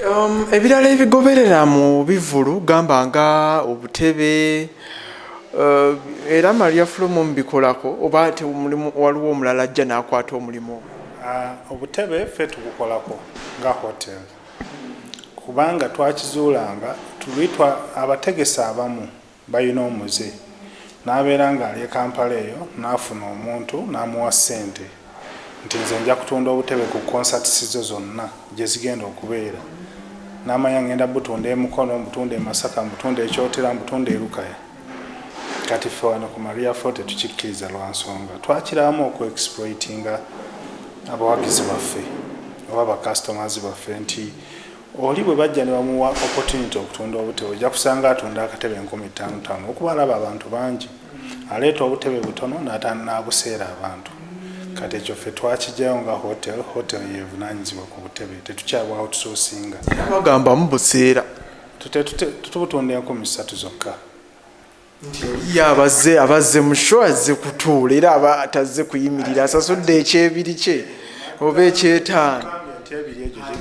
Um, ebirala ebigoberera mu bivulu gamba nga obutebe uh, era maria fulumu mubikolako oba te omulimu waliwo omulala ajja nakwata omulimu uh, obutebe fe tubukolako nga hotel kubanga twakizuulanga tulitwa abategesi abamu balina omuze n'abeera ng'ali e Kampala eyo n'afuna omuntu n'amuwa ssente nti nze nja kutunda obutebe ku concerts zo zonna gye zigenda okubeera n'amanya ngenda butunda e Mukono, mbutunda e Masaka, mbutunda e Kyotera, mbutunda e Lukaya. Kati ffe wano ku Maria Fo tetukikkiriza lwa nsonga twakirabamu oku exploitinga abawagizi baffe oba ba customers baffe nti Oli bwe bajja ne bamuwa opportunity okutunda obutebe ojja kusanga atunda akatebe enkumi ttaano ttaano okuba alaba abantu bangi aleeta obutebe butono n'ataana n'abuseera abantu kati ekyo ffe twakijayo nga hotel hotel yevunaanyizibwa ku butebe tetukyabwa outsourcinga bagamba mubuseera tututunda enkumi ssatu zokka ye abazze abazze musho azze kutuula era aba tazze kuyimirira asasudde ekyebiri kye oba ekyetaano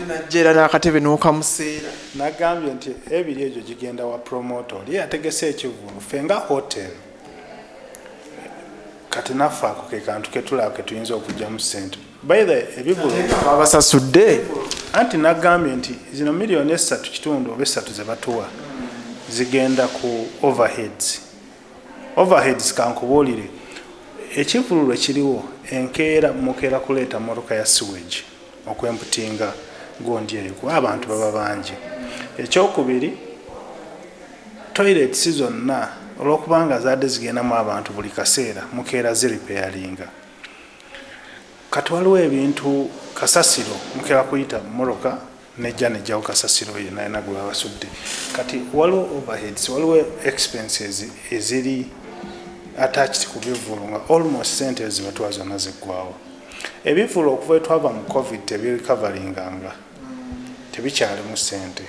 najja era n'akatebe n'okamuseera nagambye nti ebiri egyo gigenda wa promota oli yategese ekivulu fe nga hotel kati naffe ako ke kantu ketulaba ketuyinza okugyamu sente babasasudde anti nagambye nti zino miliyoni esatu kitundu oba esatu zebatuwa zigenda ku overheads overheads kankubuulire ekivululu ekiriwo enkeera mukeera kuleeta motoka ya sewage okwemputinga gundi eyo kuba abantu baba bangi ekyokubiri toilets zonna olwokubanga zaadde zigendamu abantu buli kaseera mukeera ziripeyalinga kati waliwo ebintu kasasiro mukera kuyita mumoroka nejja nejjawo kasasiro oyo nalina gwe babasudde kati waliwo overheads waliwo expenses eziri attached ku bivulu nga almost sente ezibatwa zonna ziggwawo ebivulu okuva etwava mu covid tebirikavalinganga tebikyalimu sente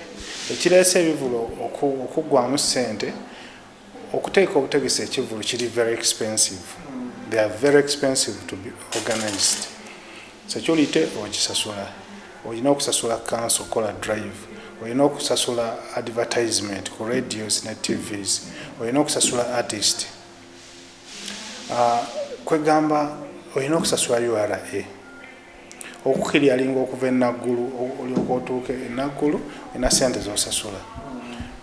ekireese ebivulu okuggwamu sente Okuteeka obutegesi ekivvulu kiri very expensive. They are very expensive to be organized. Security ogisasula, olina okusasula kanso kola drive, olina okusasula advertisement ku radios ne TVs, olina okusasula artist. Uh, kwegamba olina okusasula URA. okukiryalinga okuva e Naggulu olyoka otuuke e Naggulu olina sente zosasula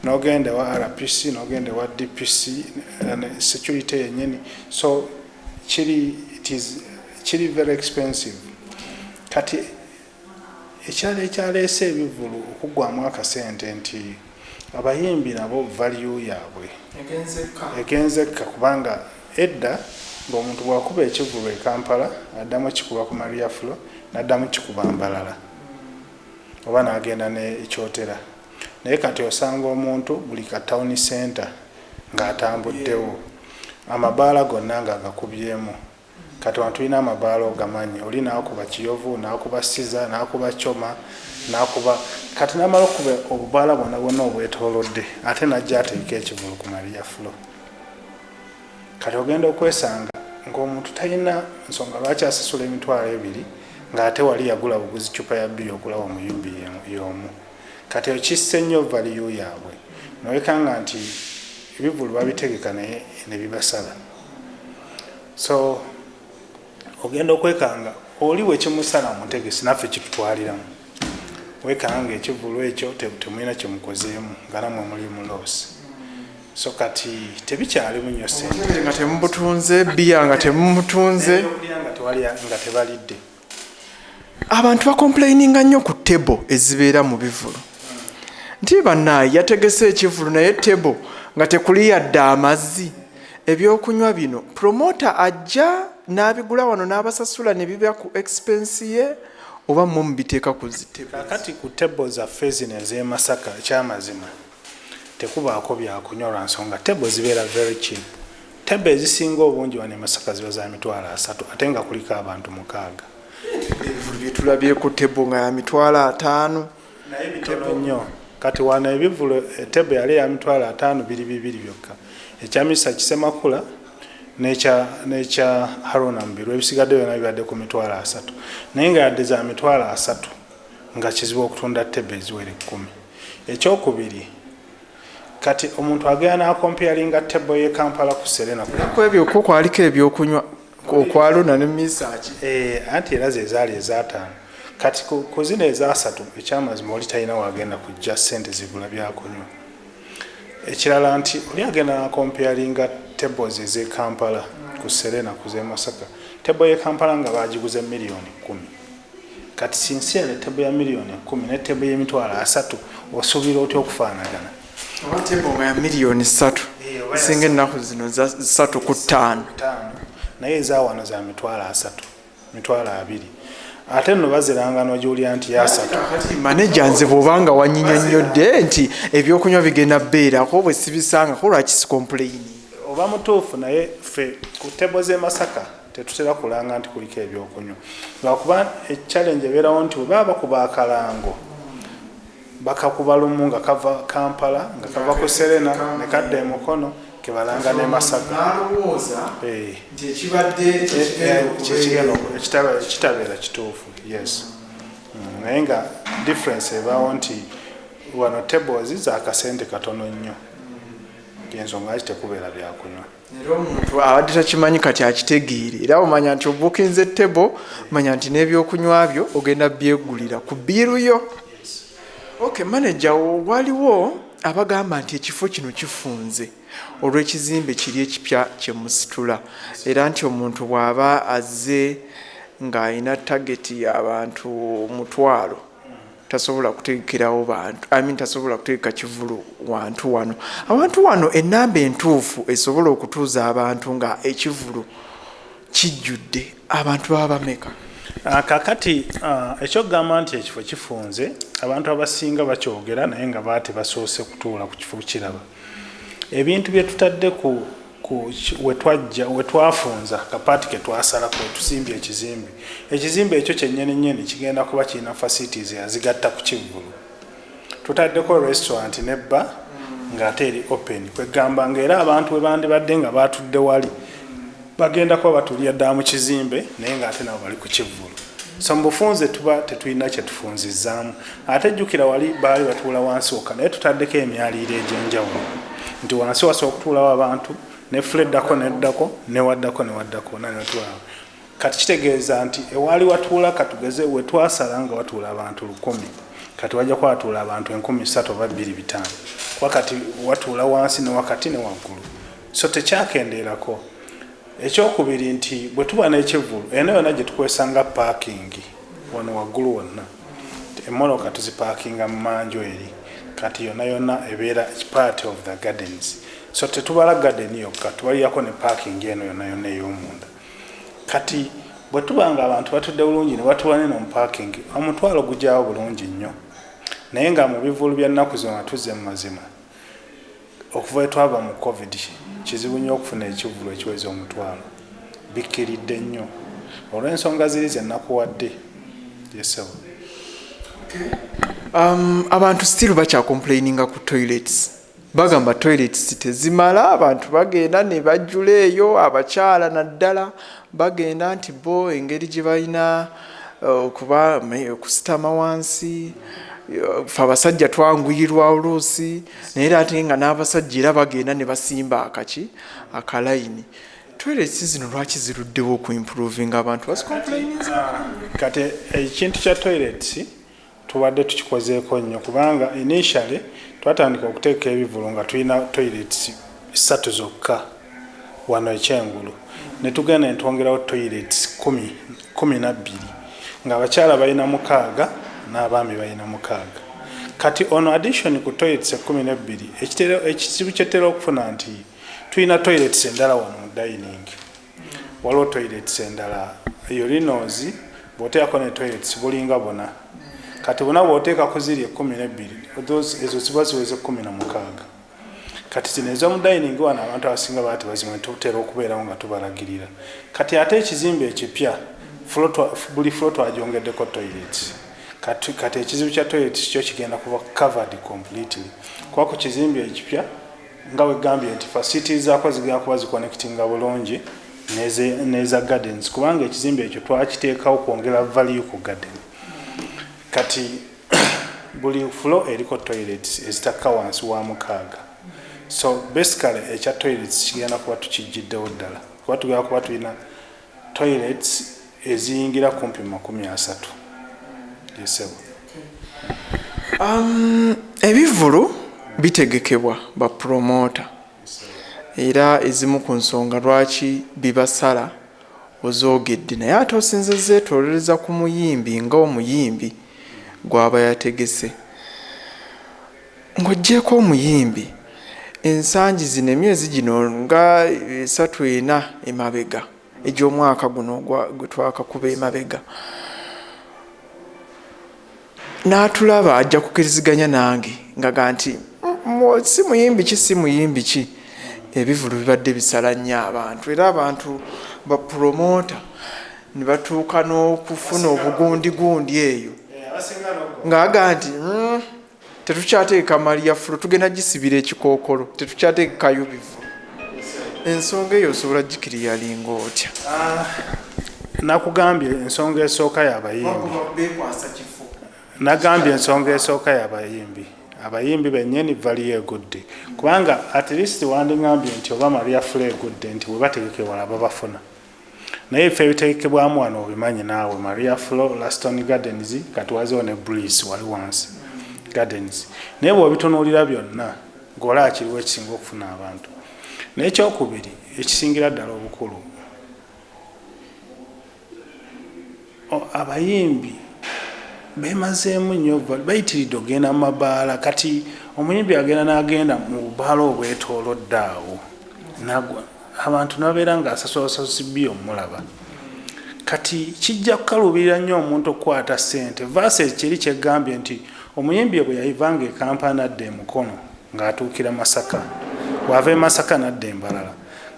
nogenda ewa RPC nogenda ewa DPC security yenyini so kiri it is kiri very expensive kati ekyalo ekyaleese ebivulu okuggwamu akasente nti Abayimbi nabo value yabwe egenzekka kubanga edda ng'omuntu bwakuba ekivvulu e Kampala addamu okikuba ku Maria Flo naddamu okikuba Mbarara oba nagenda ne Kyotera naye kati osanga omuntu buli ka town centre ng'atambuddewo amabaala gonna ng'agakubyemu. Kati wano tulina amabaala ogamanyi oli nakuba kiyovu nakuba siza nakuba coma nakuba kati namala okuba obubaala bwona bwona obwetolodde ate najja ateeka ekivulu ku maria flo kati ogenda okwesanga ngaomuntu talina nsonga lwaki asasula emitwalo ebiri ngaate wali yagula buguzi cupa ya biya okulawa omuyumbi yomu kati okisse nnyo valiyu yaabwe nowekanga nti ebivulu babitegeka naye nebibasala so ogenda okwekanga oli wekimusala mutegesi naffe kitutwaliramu wekanga ekivulu ekyo temulina kyemukozeemu nga namwe muli muloosi so kati tebikyalimu nyo sente nga temubutunze biya nga temumutunze nga tebalidde abantu bakomplaininga nnyo ku table ezibeera mu bivulu nti banaye yategese ekivulu naye table nga tekuli yadde amazzi ebyokunywa bino promota ajja n'abigula wano n'abasasula ne biba ku expense ye oba mwe mubiteeka ku zitebkati ku table zaffe zino ez'emasaka ekyamazima tekubaako byakunywa lwansonga table zibeera very cheap table ezisinga obungi wano emasaka ziba za mitwalo asatu ate nga kuliko abantu mukaaga byetulabyeku table nga ya mitwalo ataano naye bitono nnyo kati wano ebivulu eh, table yali ya mitwalo ataano biri bibiri byokka ekya misa kisemakula nekya haruna mubiru ebisigadde byona bibadde ku mitwalo asatu naye nga yadde za mitwalo asatu nga kizibu okutunda tebbe eziwera ekkumi. Ekyokubiri, kati omuntu agenda n'akompeyalinga tebbo y'e Kampala ku Serena. Ku ebyo kwo kwaliko ebyokunywa okwaluna ne misaaki. Eh, anti era ze zaali ezaataano. Kati ku zino ezaasatu ekyamazima oli talina waagenda kujja ssente zigula byakunywa. Ekirala nti oli agenda n'akompeyalinga tebbo ze z'e Kampala ku Serena ku z'e Masaka. Tebbo y'e Kampala nga baagiguze miliyoni kkumi. kati sincerely table ya million ekumi ne table yemitwalo asatu osuubira otya okufaanagana table nga ya million satu singa ennaku zino satu ku ttaano naye ezawano za mitwalo asatu mitwalo abiri ate nno baziranga nogiwulira nti yasatu maneja nze bwobanga wanyinyonyodde nti ebyokunywa bigenda beerako bwe sibisangako lwaki sikompuleyini oba mutuufu naye fe ku tebo z'emasaka Tetutera kulanga nti kuliko ebyokunywa lwakuba ekyalenje ebeerawo nti bwe baba bakuba akalango bakakuba lumu nga kava Kampala nga kava ku Serena ne kadda e Mukono ke balanga n'e Masaka. Eh. Ekitabeera kituufu yes mm, naye nga difference ebaawo nti wano tables za kasente katono nnyo ensonga ki tekubeera byakunywa. era omuntu abadde takimanyi kati akitegeere era omanya nti obukinze table manya nti n'ebyokunywa byo ogenda byegulira ku biiru yo ok manaja waliwo abagamba nti ekifo kino kifunze olw'ekizimbe kiri ekipya kyemusitula era nti omuntu bw'aba azze ng'alina tageti y'abantu mutwalo tasobola kutegekerawo bantu I mean tasobola kutegeka kivulu wantu wano awantu wano enamba entuufu esobola okutuuza abantu nga ekivulu kijjudde abantu baba bameka ah, kakati ah, ekyokugamba nti ekifo kifunze abantu abasinga bakyogera naye nga baa tebasoose kutuula ku kifo kiraba ebintu byetutadde ku wetwafunza kapaati ketwasala kwetusimbye ekizimbe ekizimbe ekyo kyenyini nyini kigenda kuba kirina facilities azigatta ku kivvulu tutaddeko restaurant ne bba ng'ate eri open kwegamba nga era abantu bwe bandibadde nga baatudde wali bagenda kuba batulira ddala mu kizimbe naye ng'ate nabo bali ku kivvulu so mu bufunze tuba tetulina kyetufunzizzaamu ate jjukira wali baali batuula wansi wokka naye tutaddeko emyaliiro egy'enjawulo nti wansi wasobola okutuulawo abantu nefula eddako neddako newaddako newaddako nanetulawo kati kitegeeza nti ewaali watuula katugeze wetwasala nga watuula abantu lukumi kati wajja kuba watuula abantu enkumi satu oba bbiri bitaano kuba kati watuula wansi newakati newaggulu so tekyakendeerako ekyokubiri nti bwe tuba n'ekivulu ena yona gye tukwesanga paakingi wano waggulu wonna Emmoloka tuzipakinga mu manju eri kati yona yona ebeera part of the gardens so tetubala garden yokka tubalirako ne parking eno yona yona ey'omunda kati bwe tuba nga abantu batudde bulungi ne batuwa neno mu parking omutwalo gugyawo bulungi nnyo naye nga mu bivulu bya nnaku zona tuzze mu mazima Okuva lwe twava mu Covid kizibu nnyo okufuna ekivvulu ekiweza omutwalo. Bikkiridde nnyo. Olw'ensonga ziri ze nnakuwadde. Yes ssebo. Um, abantu still bakya complaininga ku toilets bagamba toilets tezimala abantu bagenda ne bajjula eyo abakyala naddala Bagenda nti bo engeri gye balina okuba okusitama wansi fe abasajja twanguyirwa oluusi naye era ate nga n'abasajja era bagenda ne basimba akaki akalayini toiletsi zino lwaki ziruddewo okuimprovinga abantu bazikomplaininzako kati ekintu kya toiletsi Tubadde tukikozeeko nnyo kubanga initially twatandika okuteeka ebivulu nga tulina toilets ssatu zokka wano e Kyengulu ne tugenda ne twongerawo toilets kkumi kkumi na bbiri ng'abakyala balina mukaaga n'abaami balina mukaaga kati ono addition ku toilets ekkumi n'ebbiri ekizibu kye tutera okufuna nti tulina toilets endala wano mu dining. waliwo toilets endala urinos bwoteekako ne toilets bulinga buna kati buna bwoteeka ku ziri ekumi nebbiri ezo ziba ziweze kumi na mukaaga kati zino ezomudining wano abantu abasinga baati bazimu netutera okubeerawo nga tubalagirira kati ate ekizimba ekipya buli flo twajongeddeko toilets kati kati ekizibu kya toilets kyo kigenda kuba covered completely kuba ku kizimba ekipya nga wegambye nti facility zako zigenda kuba ziconnectinga bulungi neza gardens kubanga ekizimbe ekyo twakiteekawo kwongera value ku garden kati buli flo eriko toilets ezitakka wansi wa mukaaga so basically ekya toilets kigenda kuba tukijjiddewo ddala kuba tugenda kuba tulina toilets eziyingira kumpi mu makumi asatu yesebo um, ebivulu bitegekebwa ba promota era ezimu ku nsonga lwaki bibasala ozoogedde naye ate osinza zeetolereza ku muyimbi nga omuyimbi gwaba yategese Ng'oggyeeko omuyimbi, ensangi zino emyezi gino nga esatu ena emabega egy'omwaka guno gwe twakakuba emabega n'atulaba ajja kukiriziganya nange ngaga nti si muyimbi ki si muyimbi ki ebivulu bibadde bisala nnyo abantu era abantu bapulomota ne batuuka n'okufuna obugundigundi eyo ng'aga nti hmm, tetukyateeka mali ya fulu tugenda gisibira ekikookolo tetukyateekayo bivu ensonga eyo osobola gikiriyalinga otya ah, nakugambye ensonga esooka yabayimbi nagambye ensonga esooka yabayimbi abayimbi benyini valiyo egudde kubanga at least wandingambye nti oba maria fula egudde nti webategekewala babafuna naye ebifo ebitegekebwamu wano obimanyi naawe maria flo laston gardens kati wazewo ne breeze wali wansi gardens naye bwobitunuulira byonna gola akiriwo ekisinga okufuna abantu nekyokubiri ekisingira ddala obukulu Oh abayimbi bemazeemu nyo bayitiridde okugenda mu mabaala kati omuyimbi agenda nagenda mu bubaala obwetolodde awo nagwa abantu nabeera nga asasula sasusi bi omulaba kati kijja kukaluubirira nnyo omuntu okukwata ssente vaasi ekiri kyegambye nti omuyimbi ebwe yayivanga ekampala nadda emukono ng'atuukira masaka bw'ava e masaka nadda embalala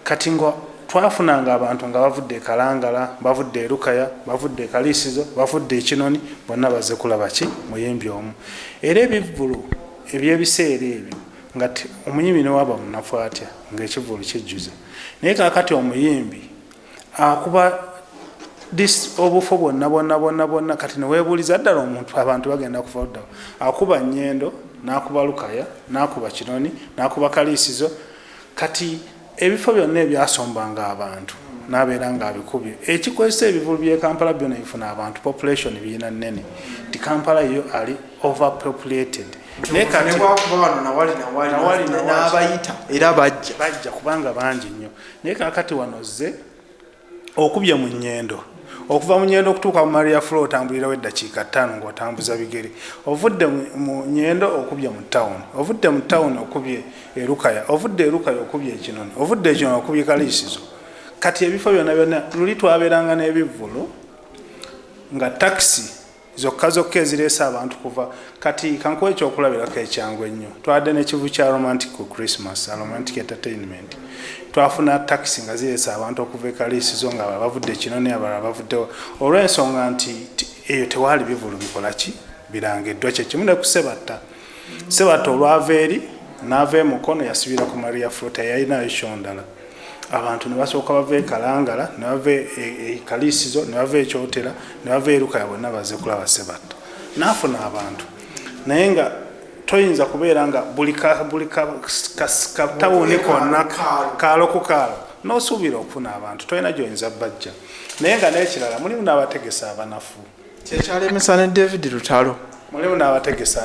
Kati nga twafunanga abantu nga bavudde e Kalangala, bavudde e Lukaya, bavudde e Kaliisizo, bavudde e Kinoni, bonna bazze kulaba ki? Muyimbi omu. Era ebivvulu eby'ebiseera ebyo nga omuyimbi ne waaba munafu atya nga ekivvulu kijjuza. Naye kaakati omuyimbi akuba dis obufo bwonna bwonna bwonna bwonna kati ne weebuuliza ddala omuntu abantu bagenda kuva luddawa? Akuba Nnyendo, n'akuba Lukaya, n'akuba Kinoni, n'akuba Kaliisizo, Kati ebifo byonna ebyasombanga abantu nabeera nga abikubye ekikozesa ebivulu bye Kampala byona bifuna abantu population biyina nene ti Kampala yo ali overpopulated nabayita era bajja bajja kubanga bangi nnyo naye kakati wano zze okubye mu nyendo okuva mu nyendo okutuuka mu maria flo otambulirawo eddakiika ttaano ngaotambuza bigere ovudde mu nyendo okubye mu tawuni ovudde mu tawuni okubye erukaya ovudde erukaya okubye ekinoni ovudde ekinoni okubye kaliisizo kati ebifo byona byona luli twabeeranga n'ebivvulu nga takisi zokka zokka ezireese abantu kuva kati kankuwa ekyokulabirako ekyangu ennyo twabadde nekivu kya romantic ku christmas aromantic entertainment twafuna takisi nga zireese abantu okuva ekaliisi zo nga bavudde kino naye abalala bavuddewo olw'ensonga nti eyo tewaali bivulu bikola ki birangiddwa kyekimu ne kusebatta sebatta olwava eri naava emukono yasibira ku maria flota yalinayo kyondala abantu ne basooka bava e kalangala ne bava e, e, e kaliisizo ne bava ekyotera ne bava erukaya bonna baze kulaba sebatta naafuna abantu naye nga toyinza kubeera nga buli katawuni konna kaalo ku kaalo nosuubira okufuna abantu tolina gyoyinza bajja naye nga nekirala mulimu n'abategesi abanafu kyekyalemesa ne david lutalo mulimu n'abategesi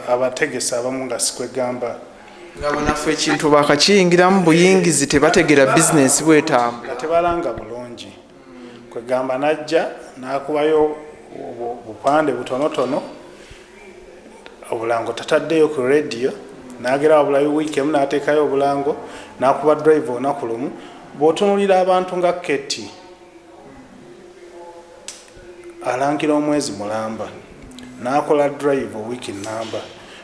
abategesi abamu nga sikwegamba nga banafu ekintu bakakiyingiramu buyingizi tebategera bizinesi bwetambula tebalanga bulungi kwegamba najja nakubayo bupande butonotono obulango tataddeyo ku radio nagera wabulayo wiiki emu natekayo obulango nakuba drive olunaku lumu bwotunulira abantu nga keti alangira omwezi mulamba nakola drive wiki namba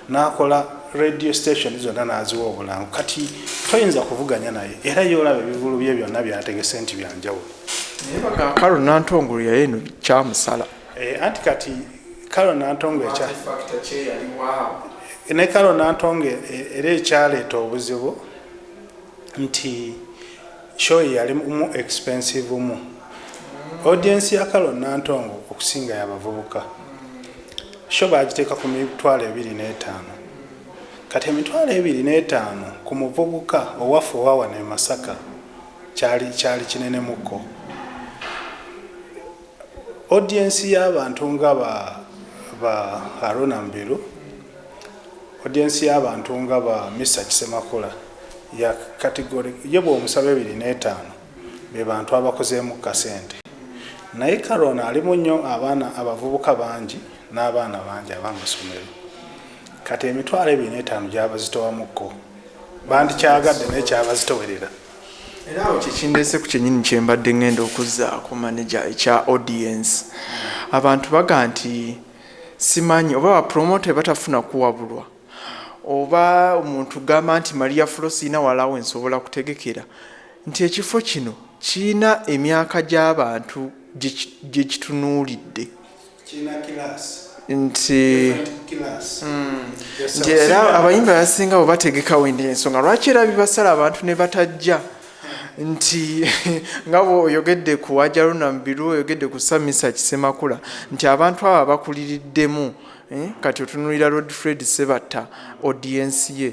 nakola radio station zonna naziwa obulango kati toyinza kuvuganya naye era yolaba ebivulu bye byonna byategese nti byanjawulo karo nantongolo yayeno kyamusala eh, anti kati karo nantongo ekya ne karo nantongo e, era ekyaleeta obuzibu nti Show yali mu expensive mu. Audience ya Carol Nantongo okusinga ya bavubuka. Show baagiteeka ku mitwalo ebiri n'etaano. Kati emitwalo ebiri n'etaano ku muvubuka owaffe owa wano e Masaka kyali kyali kinenemuko. Audience y'abantu nga ba ba Arona Mubiru, audience y'abantu nga ba Mister Kisemakula ya category ye bw'omusaba ebiri n'etaano be bantu abakozeemu ku kasente naye Karona alimu nnyo abaana abavubuka bangi n'abaana bangi ab'amasomero kati emitwalo ebiri n'etaano gyabazitowamu ko bandikyagadde naye kyabazitowerera. era awo kyekindeese ku kyenyini kyembadde ngenda okuzzaako manaja ekya audience abantu baga nti simanyi oba bapromota batafuna kuwabulwa oba omuntu gamba nti maria fulo sirina walawo ensobola kutegekera nti ekifo kino kirina emyaka gy'abantu gyekitunuulidde nti nti era abayimbi abasinga bwe bategekawo endi ensonga lwaki era bibasala abantu ne batajja nti nga bweoyogedde ku wajaruna mubiru oyogedde ku samisa kisemakula nti abantu abo abakuliriddemu eh, kati otunulira rod fred sebatta odiensi ye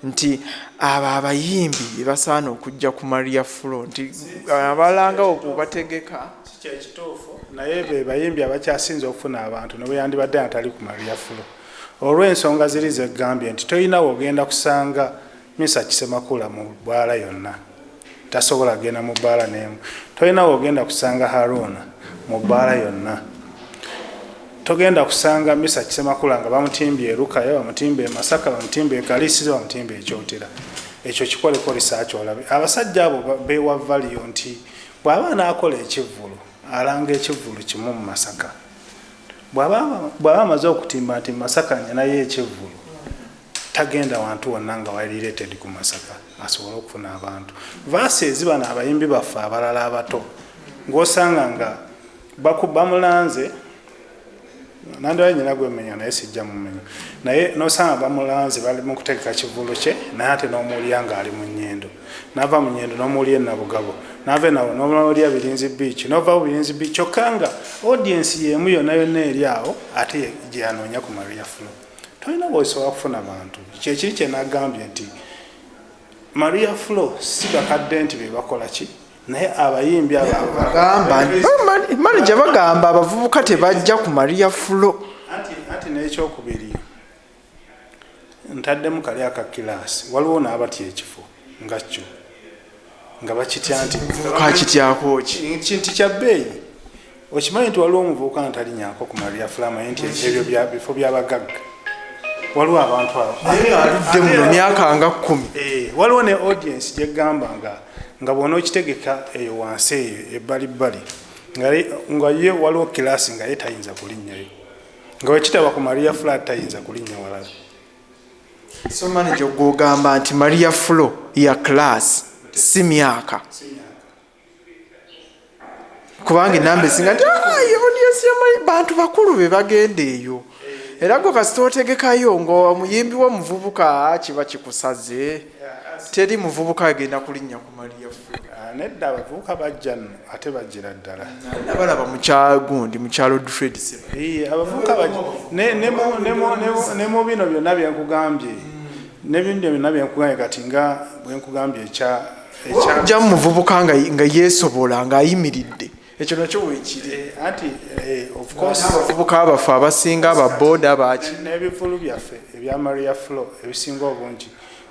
nti abo abayimbi bebasaana okujja ku maria flo nti abalanga oku bategeka kyekituufu naye be bayimbi abakyasinze okufuna abantu ne bweyandibadde natali ku malyafulo olw'ensonga ziri zegambye nti tolina wogenda kusanga misa kisemakula mu bbaala yonna tasobola genda mu bbaala n'emu tolina wogenda kusanga haruuna mu bbaala yonna togenda kusanga misa kisemakula nga bamutimbye erukaya bamutimba emasaka bamutimba ekalisiza bamutimba ekyotera ekyo kikoleko risaaki olabe abasajja abo bewavaliyo nti Bw'aba anaakola ekivvulu alanga ekivvulu kimu mu Masaka. Bw'aba amaze okutimba nti Masaka ninayo ekivvulu tagenda wantu wonna nga wali related ku Masaka asobole okufuna abantu. Vaasi ezibano abayimbi baffe abalala abato ng'osanga nga bakuba mulanze. nandala nyina gwemenya naye sijja mumenya naye nosanga bamulanze bali mukutegeka kivulu kye naye ate nomuwulira nga ali munyendo nava munyendo nomuwulira enabugabo nava enawo nomuwulira birinzi biiki nova ku birinzi biiki kyokka nga audiensi yemu yona yonna eri awo ate gyeyanoonya ku maria flo tolina bwosobola kufuna bantu kyekiri kyenagambye nti maria flo si bakadde nti bebakola ki naye abayimbi manaja bagamba abavubuka tebajja ku maria fulo ati nekyokubiri ntaddemu kali aka kilaasi waliwo naabatya ekifo nga kyo nga bakitya nti kakityakoki kinti kya bbeeyi okimanyi nti waliwo omuvubuka ntalinyako ku maria flamay nti ebyo bifo byabagagga waliwo abantu abo aludde muno myaka nga kumi eh, waliwo ne audience gyegamba nga nga bwona okitegeka eyo wansi eyo ebbali bbali nga ye waliwo kilasi nga ye tayinza kulinnyayo nga wekitaba ku maria fla tayinza kulinnya walala so manaje gwogamba nti maria flo ya kilasi si myaka kubanga enamba esinga nti ah, audience yamanyi bantu bakulu be bagenda eyo era gwe kasita otegekayo ngaomuyimbi womuvubuka kiba kikusaze teri muvubuka agenda kulinnya ku maliya ah, nedda abavubuka bajja no ate bajjira ddala nabalaba mukyagundi mukyalo dfred abavubuka ne mu bino byonna byenkugambye ne bino byonna byenkugambye kati nga bwenkugambye ekya jamu muvubuka nga yesobola nga ayimiridde ekyo nakyo wekiri eh, anti eh, abavubuka baffe abasinga ababoda baki n'ebivulu byaffe ebya maria flo ebisinga obungi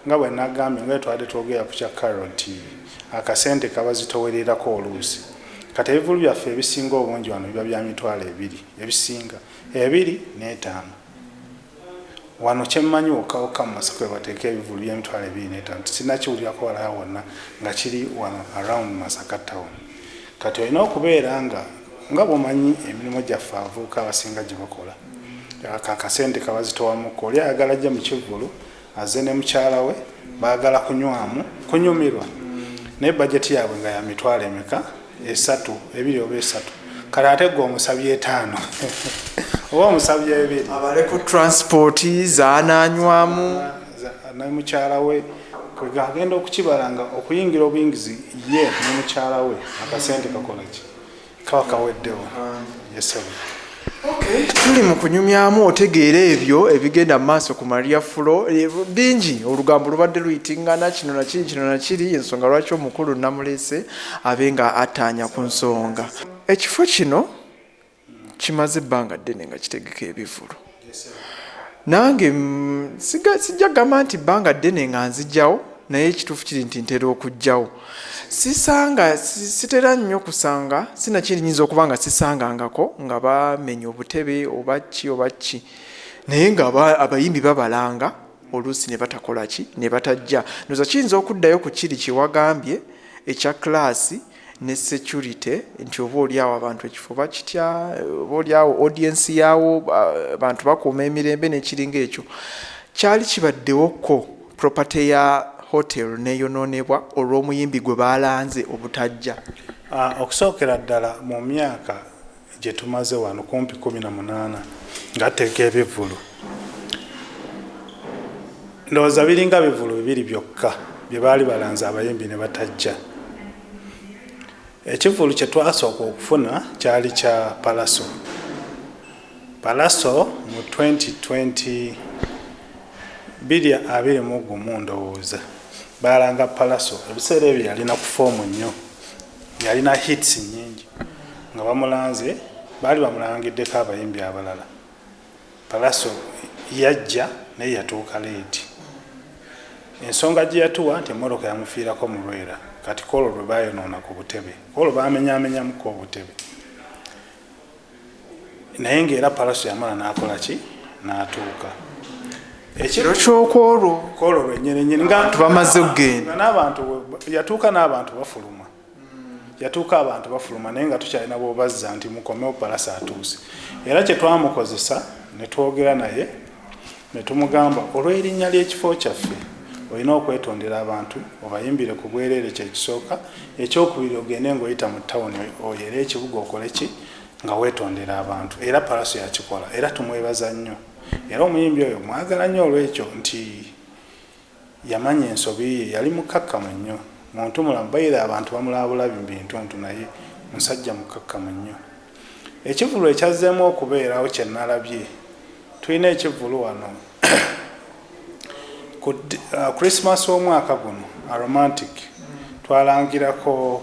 nga bwe nagambye nga twade twogera ku kya caroti akasente kabazitowererako oluusi kati ebivulu byaffe ebisinga obungi wano biba bya mitwalo ebiri ebisinga ebiri n'etaano Wano kyemmanyi wokka wokka mu masaka webateeka ebivulu by'emitwalo ebiri n'etaano sinakiwulirako walala wonna nga kiri wano around Masaka town. Kati olina okubeera nga nga bwomanyi emirimu gyaffe abavubuka abasinga gyebakola akasente kabazitowa mukko oli ayagala ajje mu kivvulu Aze ne mukyala we baagala kunywamu kunyumirwa naye bajeti yaabwe nga ya mitwalo emeka esatu ebiri oba esatu kale ate gwe omusabye etaano oba omusabye ebiri abale ku transport zananywamu nemukyala we kwegagenda okukibala nga okuyingira obuyingizi ye nemukyala we akasente kakolaki kaba kaweddewo yesabi Okay. tuli mu kunyumyamu otegeera ebyo ebigenda mu maaso ku maria fulo eh, bingi olugambo lubadde luyitingana kino nakiri kino nakiri ensonga lwaki omukulu namulese abe nga ataanya ku nsonga ekifo kino kimaze ebbanga ddene nga kitegeka ebivulu nange mm, sijja gamba nti bbanga ddene nga nzijjawo naye ekituufu kiri nti ntera okujjawo sisanga sitera nnyo kusanga sinakyerinyinza okuba nga sisangangako nga bamenya obutebe oba ki oba ki naye nga abayimbi babalanga oluusi ne batakola ki ne batajja noza kiyinza okuddayo ku kiri kyewagambye ekya klaasi ne security nti oba olyawo abantu ekifo bakitya oba olyawo audience yaawo abantu bakuuma emirembe nekiringa ekyo kyali kibaddewokko property ya hotel neyonoonebwa olw'omuyimbi gwe baalanze obutajja ah, okusookera ddala mu myaka gye tumaze wano kumpi kumi na munaana ngateeka ebivvulu ndowooza biringa bivvulu bibiri byokka bye baali balanze abayimbi ne batajja ekivvulu kye twasooka okufuna kyali kya palaso palaso mu 2020 biri abiri mu gumu ndowooza baalanga palaso ebiseera ebyo yalina ku foomu nnyo yalina hits nyingi nga bamulanze baali bamulangiddeko abayimbi abalala palaso yajja naye yatuuka leeti ensonga gye yatuwa nti emmotoka yamufiirako mulwera kati koolo lwe bayonoona ku butebe koolo bamenyamenyamuko obutebe naye ngaera palaso yamala nakola ki natuuka ekiro kyokwolwo kwolwo lwenyinenyini ngabantu bamaze okugenda nabantu yatuuka n'abantu bafuluma yatuuka abantu bafuluma naye nga tukyalina bobazza nti mukomewo palaso atuuse era kyetwamukozesa netwogera naye Ne tumugamba, Olw'erinnya ly'ekifo kyaffe, olina okwetondera abantu, obayimbire ku bwereere, kye kisooka. Eky'okubiri, ogende nga oyita mu ttawuni oyo era ekibuga okole ki? Nga weetondera abantu. Era Pallaso yakikola. Era tumwebaza nnyo. Era omuyimbi oyo mmwagala nnyo olw'ekyo, nti. Yamanya ensobi ye. Yali mukkakkamu nnyo. Muntumulamu. By the abantu bamulaba bulabi mu bintuntu naye musajja mukkakkamu nnyo. Ekivvulu ekyazzeemu okubeerawo kye nnalabye, tulina ekivvulu wano ku Christmas w'omwaka guno, Aromantic, twalangirako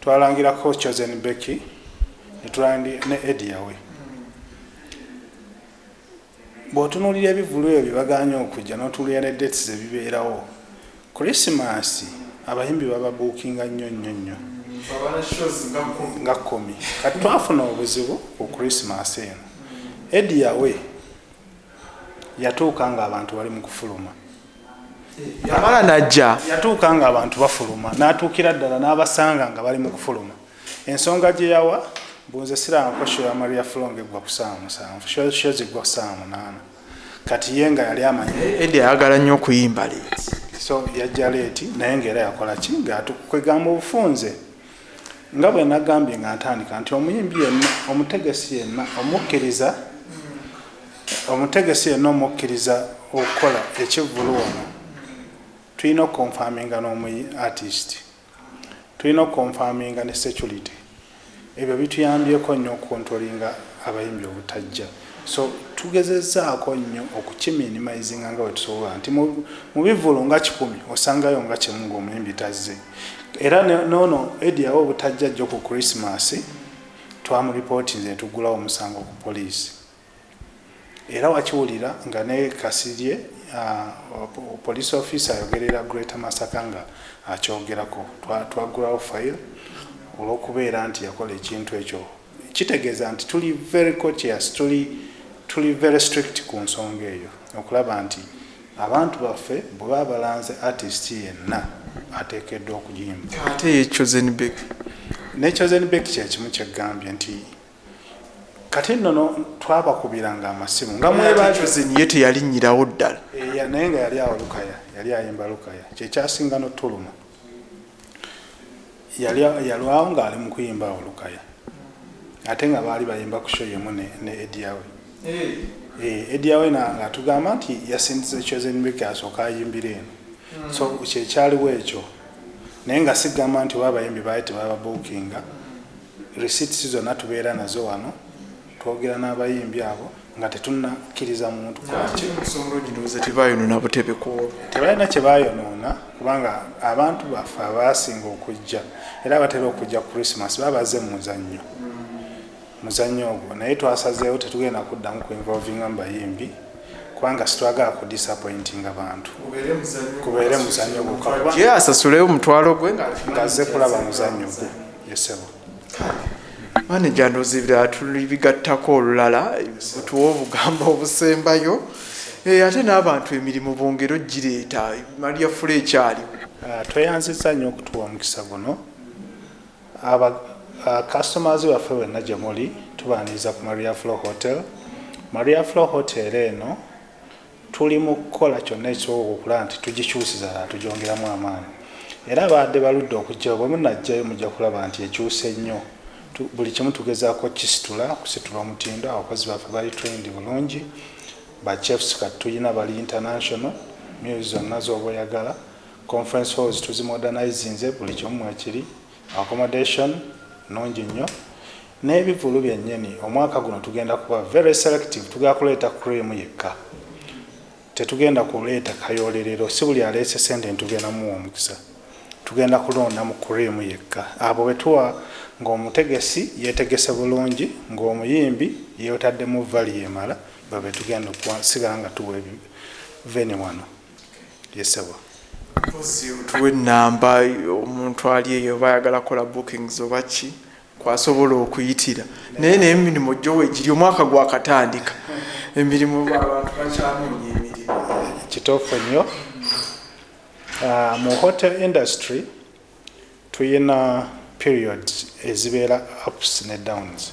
twalangirako Chosen Becky ne tulandi ne Eddie Yawe. Bw'otunuulira ebivvulu ebyo bye bagaanyi okujja n'otunuulira ne dates ze bibeerawo, Kulisimaasi abayimbi bababuukinga nnyo nnyo nnyo nga kkumi. Kati twafuna obuzibu ku Kulisimaasi eno. Eddy Yawe yatuuka ng'abantu bali mu kufuluma. Yamala n'ajja. Yatuuka ng'abantu bafuluma n'atuukira ddala n'abasanga nga bali mu kufuluma. Ensonga gye yawa mbu nze siraba ko sho ya Maria Flo ng'eggwa ku ssaawa musanvu sho sho ziggwa ku ssaawa munaana kati ye nga yali amanyi Eddie ayagala nnyo okuyimba leeti so yajja leeti naye ng'era yakola ki ng'atukwegamba obufunze nga bwe nagambye nga ntandika nti omuyimbi yenna omutegesi yenna omukkiriza omutegesi yenna omukkiriza okukola ekivvulu wano tulina okukonfaminga n'omuyi artist tulina okukonfaminga ne security ebyo bituyambyeko nnyo okukontrolinga abayimbi obutajja so tugezezaako nnyo okukiminimizinga nga wetusobola nti mu bivulu nga kikumi osangayo nga kimu ngaomuyimbi tazze era noono ediyawo obutajja jjo ku krismas twamuripootinze netugulawo omusango ku poliisi Era wakiwulira nga ne Kasirye uh, police officer ayogerera Greater Masaka nga akyogerako twaggulawo file olw'okubeera nti yakola ekintu ekyo kitegeeza nti tuli very courteous tuli tuli very strict ku nsonga eyo okulaba nti abantu baffe bwe baba balanze artist yenna ateekeddwa okuyimba ate ye chosen bek ne chosen bek kyekimu kyegambye nti kati nno no twabakubiranga amasimu nga mwebazini ye teyalinnyirawo ddala eh, naye nga yali awo lukaya yali ayimba lukaya kyekyasinga notuluma yalwawo ngaali mu kuyimba awo lukaya ate nga baali bayimba ku sho yemu ne ediawe ediawe eh. eh, nga atugamba nti yasindiza ekyozenbeke asooka ayimbira eno hmm. so kyekyaliwo ekyo naye nga sigamba nti oba abayimbi baali tebababuukinga Receipts zonna tubeera nazo wano, twogera n'abayimbi abo nga tetunakkiriza muntu tebalina kye bayonoona kubanga abantu baffe abaasinga okujja era abatera okujja christmas babaze mu muzannyo muzannyo ogwo naye twasazeewo tetugenda kuddamu ku involvinga mu bayimbi kubanga sitwagala ku disappointinga bantu kubeere muzannyo gwokka asasuleyo omutwalo gwe ng'azze kulaba muzannyo gwe maneja ndozi tulibigattako olulala tuwa obugambo obusembayo eh, ate n'abantu emirimu bongere ogireeta maria fula ekyali ah, tweyanziza nnyo okutuwa omukisa guno customers waffe wenna gye muli tubaniriza ku maria flo hotel maria flo hotel eno Tuli mu kukola kyonna ekisoboka okulaba nti tugikyusiza ddala tugyongeramu amaanyi era baadde baludde okuggyayo bwe munaggyayo mujja kulaba nti ekyuse nnyo. Buli kimu tugezaako okukisitula kusitula omutindo, abakozi baffe bali trained bulungi, ba chefs kati tulina bali international, meals zonna z'oba oyagala, conference halls tuzimodernizinze buli kimu mwekiri. Accommodation nungi nnyo n'ebivulu byennyini. Omwaka guno tugenda kuba very selective, tugenda kuleeta cream yekka, tetugenda kuleeta kayoolerero. Si buli aleese ssente nti tugenda muwa omukisa, tugenda kulonda mu cream yekka abo be tuwa ng'omutegesi yeetegese bulungi, ng'omuyimbi yeotaddemu value emala, babo be tugenda okuwa, sigala nga tuwa venue wano. yesebo mpozi otuwa ennamba omuntu ali eyo oba ayagala kola bookings oba ki kwasobola okuyitira naye naye emirimu gyowa egiri omwaka gwakatandika emirimu abantu bakyanoonya emirimu kituufu nnyo ah, mu hotel industry tuyina periods ezibeera ups ne downs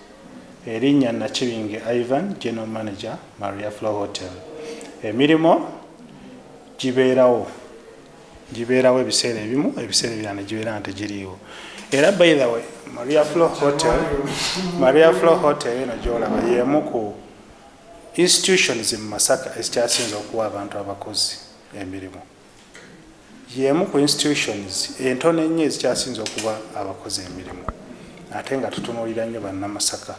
Erinnya Nakibinge Ivan, General Manager, Maria Flo Hotel. Emirimu gibeerawo gibeerawo ebiseera ebimu ebiseera ebirala ne gibeera nga tegiriiwo era by the way maria flo hotel maria flo hotel eno gyolaba y'emu ku institutions mu masaka ezikyasinza okuwa abantu abakozi emirimu y'emu ku institutions entono ennyo ezikyasinze okuba abakozi emirimu ate nga tutunuulira nnyo bannamasaka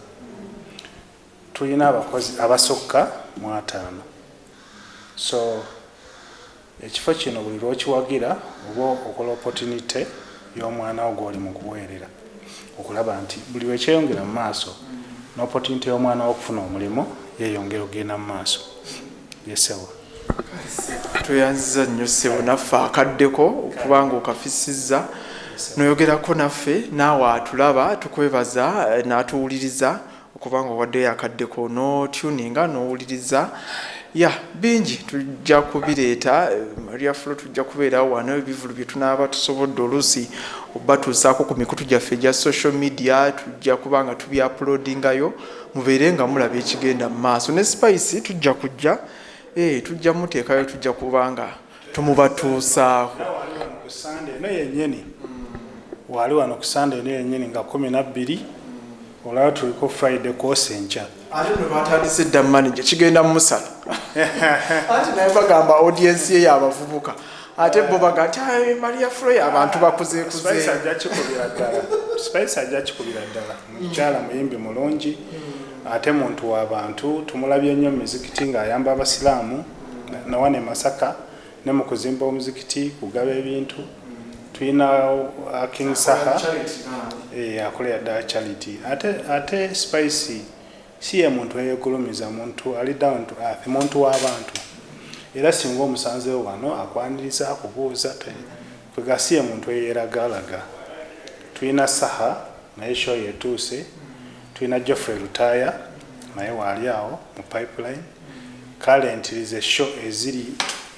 tulina abakozi abasukka mu ataano so ekifo kino buli lwokiwagira oba okola opotinite y'omwana wo gwoli mu kuweerera okulaba nti buli lwekyeyongera mu maaso n'opotinite y'omwana wo okufuna omulimu yeyongera okugenda mu maaso yesewa tweyanziza nnyo ssebo naffe akaddeko okubanga okafisizza noyogerako naffe naawe atulaba tukwebaza eh, natuwuliriza okubanga owaddeyo akaddeko notuninga nowuliriza ya bingi tujja kubireeta eh, maria flo tujja kubeerawo wano ebivulu bye tunaaba tusobodde oluusi obatuusaako ku mikutu gyaffe egya social media tujja kuba nga tubyapulodingayo mubeere nga mulaba ekigenda mu maaso ne spice tujja kujja eh, tujja muteekayo tujja kuba nga tumubatuusaako eno yenyini waali wano ku sande eno yenyini nga kumi nabbiri olaba tuliko friday kwosa enkya ate no batandise dda manaje kigenda mumusala anti naye bagamba audiensi ye yabavubuka ate bo baga ti maria froy abantu bakuzeekuzeajja kikubira ddala mukyala muyimbi mulungi mm. ate muntu wa bantu tumulabye nnyo mu mizikiti ng'ayamba abasiraamu nawana emasaka ne mu kuzimba omuzikiti kugaba ebintu tulina uh, king saha eh, akolera ddala charity ate ate spicy si ye muntu eyegulumiza muntu ali down to earth muntu w'abantu era singa omusanzewo wano akwaniriza akubuuza Gwe gasiya muntu eyeragalaga. Tulina Saha naye show yetuuse, tulina Geoffrey Lutaaya naye waali awo mu pipeline. Kale ntirize show eziri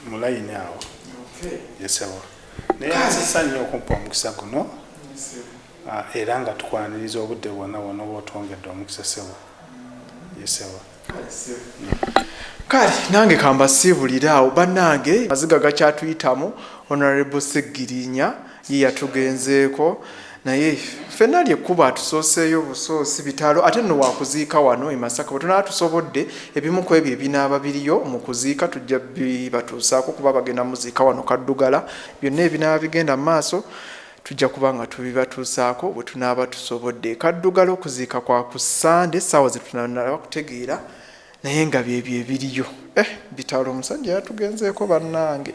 mu line awo. Ye sebo. Naye nsisa nnyo okumpa omukisa guno era nga tukwaniriza obudde bwona bwona oba otwongedde omukisa sebo. Ye sebo. kale nange kambasiibulire awo bannange maziga gakyatuyitamu honorable seggirinya ye yatugenzeeko naye ffenna lyekkubo atusooseeyo busoosi bitalo ate nno wakuziika wano emasaka bwe tunaba tusobodde ebimu ku ebyo ebinaaba biriyo mu kuziika tujja bibatuusaako kuba bagenda muziika wano kaddugala byonna ebinaaba bigenda mu maaso Tujja kuba nga tubibatuusaako bwe tunaaba tusobodde. Kaddugala okuziika kwa ku Ssande essaawa ze tunanaba kutegeera naye nga byebyo ebiriyo. Eh bitalo omusajja yatugenzeeko bannange.